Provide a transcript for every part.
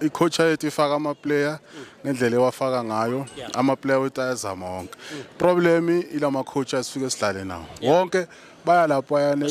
i-coach yethu ifaka ama-player ngendlela ewafaka ngayo ama-player wethu ayazama wonke problem ila ma-coach asifike sidlale nawo wonke baya lapho ayane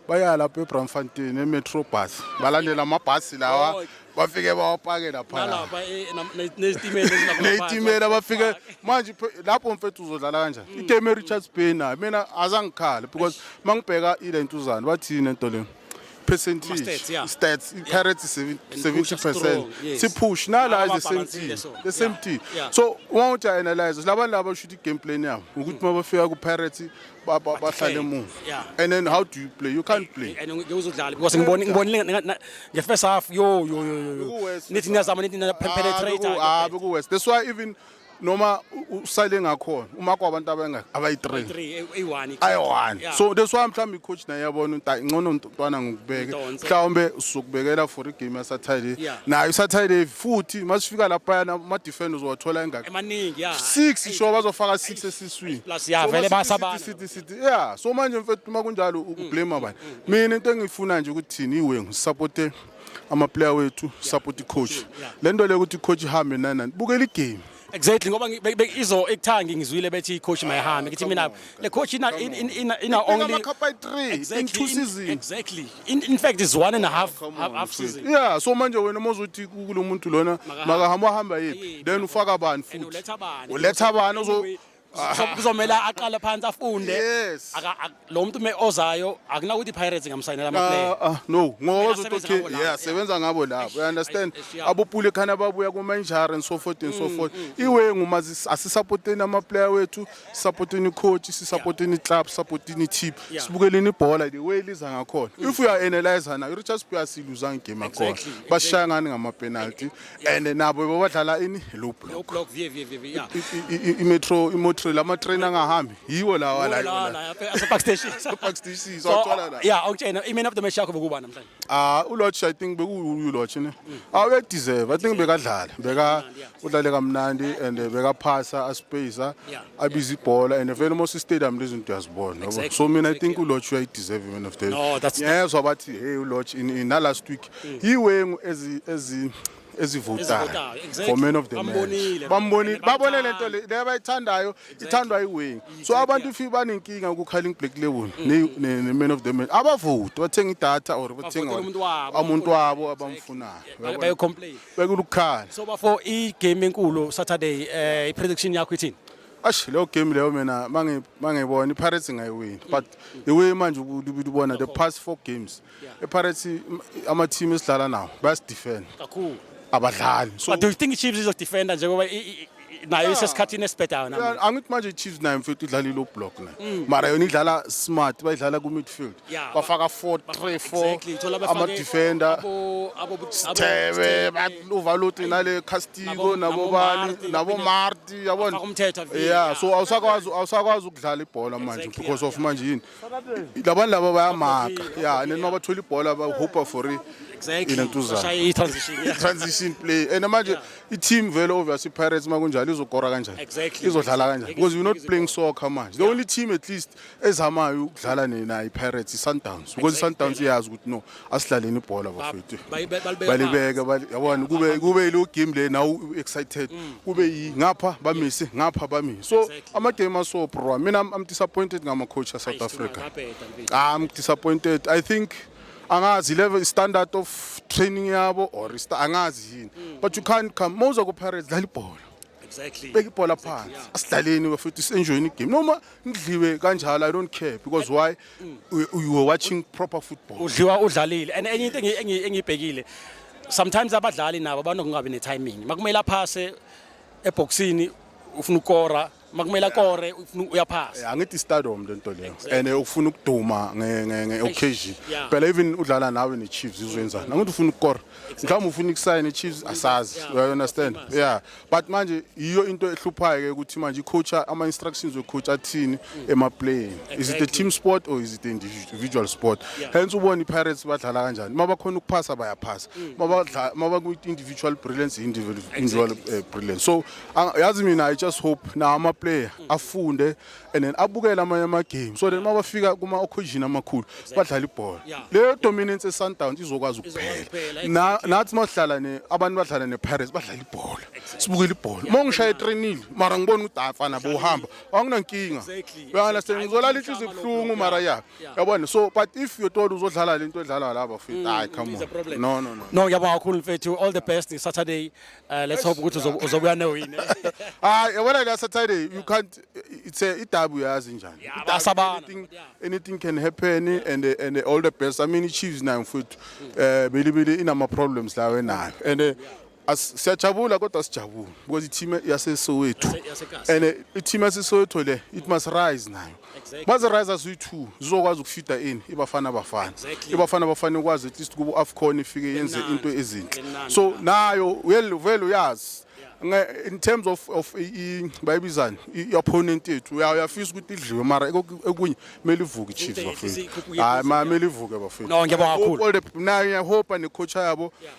baya lapho ebramfontein emetro bus balandela amabhasi lawa oh, bafike bawapake laphana nezitimela bafike manje lapho mfethu uzodlala kanjani mm. iteme richards bay nayo mina azangikhale because uma ngibheka ile ntuzane bathini entoleni percentage Ama-stats, yeah. stats Yeah. pirates is seven- And 70 push us percent strong, yes. si push nala Nala is the same babhalansile, thing so, the same yeah, thing yeah. so uma uthi analyze labantu laba should i-game plan yabo ukuthi uma bafika ku-pirates ba- ba- bahlale defend, emuva yeah. and then how do you play you can't play and ngeke uzodlala because ngibone ngibonile nga- nga- nge-first half yo yo yo, yo yo Bekuwesi. nithi niyazama nithi na- Beku- ah, penetrator beku-worse. that's why even noma usale ngakhona uma kwabantu abangaki abayi-three eh, eh, ayi-one so that's why mhlawumbe i-coach naye yabona ukuthi ayi ngcono mntwana ngikubeke mhlawumbe usukubekela for igame yasaturday nayo isaturday futhi uma sifika laphayana ama-defend uzowathola engaki six isho bazofaka six esiswini ya so manje mfethu uma kunjalo ukublame mm, bani mm, mm. mina into engiyifuna nje ukuthi thini iwengu sisapothe amaplayer wethu support icoach lento le ukuthi icoach ihambe nani nani bukela igame exactly ngoba ngi- be- be- izo ekuthangi ngizwile bethi icoach mayihambe ngithi mina le coach ina in- in- ina ina only amakhapa ayi-three in two season exactly in, in fact is one and a half half, half season yeah so manje wena uma uzothi ku- kulo muntu lona Makahamba. makahamba wahamba yephi Yephi, then ufaka bani And futhi uletha bani? uletha bani ozo- Anyway, kuzomela aqale phansi afunde Yes. Aka- ak- lo muntu me ozayo akunakuthi i-pirates ingamsayinela amaplayer Ah, ah, no ngoba Kumele uzothi asebenze okay ngabo labo, yeah yeah. sebenza ngabo labo you understand Eish, eish, yeah. abupule khana babuya kuma injury and so forth and so Mm, forth iwe nguma asisupporteni ama player wethu supporteni coach sisupporteni club supporteni team Yeah. Mm. sibukeleni ibhola the way liza ngakhona if you are analyzer na Richards Piasi luzang game akhona Exactly, bashaya ngani ngama penalty and nabo babadlala ini low block block vye vye vye yeah imetro imetro lama train angahambi yiwo lawa la yiwo ase park station park station so athola la yeah awutshena i man of the match yakho bekuba namhlanje ah u lodge i think beku u lodge ne mm. awu ah, e deserve i think bekadlala beka udlale kamnandi and eh, beka phasa a space ah, abiza ibhola and vele most stadium lezinto yazibona so mina i think u lodge u deserve man of the no that's yeah so bathi hey u lodge in in last week yiwengu ezi ezi ezivotayo for man of the match bambonile babone lento le abayithandayo ithandwa iwing so abantu if banenkinga ukukhala ingiblack label mm. ne man of the match abavoti bathenga idatha or bathenga umuntu wabo abamfunayo bayo complain bekulukhala so bafo i game enkulu saturday eh i prediction yakho ithini ash leyo game leyo mina mangibona ipirates ngayiwini but the way manje ubona the past four games EPirates ama team esidlala nawo bayasidefend kakhulu abadlali so do you think iChiefs izodefenda njengoba nayo isesikhathini esibhedayo namanje angithi manje iChiefs nayo mfethu idlala ilo block na mm. mara yona idlala smart bayidlala ku midfield bafaka 4 3 4 ama defender Stebe baluvalot nale Castillo nabo bani nabo Marti yabona yeah so awusakwazi awusakwazi ukudlala ibhola manje because of manje yini labantu laba bayamaka ya and then uma bathola ibhola bahupa for i- Exactly. Inentuzana. Bashaye i-transition. yeah. transition play and manje i-team vele obvious i-pirates uma kunjalo izokora kanjani Exactly. izodlala kanjani Ngeke because we're not izokora. playing soccer manje the only team at least ezamayo ukudlala ne- nayo i-pirates i-sundowns because i-sundowns iyazi ukuthi no asidlaleni ibhola bafethu balibeka yabona kube kube ilo game le now excited mm. kube yi ngapha bamise ngapha bamise so ama game aso bro mina i'm disappointed ngama coach ya South Africa ah, i'm disappointed i think angazi level standard of training yabo or angazi yini mm. but you can't come moza ku Pirates dlala ibhola exactly beka ibhola phansi asidlaleni bafethu senjoyini game noma ngidliwe kanjalo i don't care because why you, you were watching proper football udliwa udlalile and enye into engi- engi- engiyibhekile sometimes abadlali nabo banokungabi ne-timing makumele aphase ebhokisini ufuna ukora makumele akore ufuna- uyaphasa angithi stardom le nto leyo and eh, ufuna ukuduma nge- nge- nge-occasion Yeah. phela even udlala nawe ne-chiefs izwenzani angithi ufuna ukukora mhlawumbe ufuna ukusayina i-chiefs asazi Yeah. you understand yeah but manje yiyo into ehluphayo ke ukuthi manje icoach ama instructions wecoach athini mm. ema playing is it a team sport or is it individual sport hence ubona ipirates badlala kanjani uma bakhona ukuphasa bayaphasa mm. uma baku individual brilliance individual eh, brilliance so yazi mina i just hope na ama player mm. afunde and then abukele amanye amagame so then uma bafika kuma-occasion amakhulu badlala ibhola leyo dominance esundowns izokwazi ukuphela Na- nathi uma sihlala ne abantu badlala ne-pirates badlala ibhola sibukele ibhola uma ngishaya etrenile mara ngibona ukuthi afana bohamba anginankinga uyandastand ngizolala inhliziyo ibuhlungu mara ya yabona so but if you told uzodlala le nto edlalwa laba fit hayi come on no no no No, ngiyabonga kakhulu mfethu. All the best Saturday. Uh, let's hope ukuthi uzob- uzobuya newine hayi yabona la saturday you can't it's a idabu yazi njani Idabu, Itasabana. anything, anything can happen and uh, and all the best i mean ichiefs nayo mfowethu eh bilibili inama problems lawo enayo and eh, as- siyajabula kodwa sijabula because i-team yasesowethu Yase- yaseKasi. and eh, i-team yasesowethu le it must rise nayo exactly. baze riser ziyi-two zizokwazi ukufida ini ibafana bafana exactly. ibafana bafana ikwazi at least kubo afcon ifike yenze into ezinhle so nayo vele uyazi in terms of of bayibizani i-opponent yethu uyafisa ukuthi idliwe mara ekunye kumele ivuke i-chiefs bafethu hayi ma kumele ivuke bafethu no ngiyabonga kakhulu nayo iyahopa necoacha yabo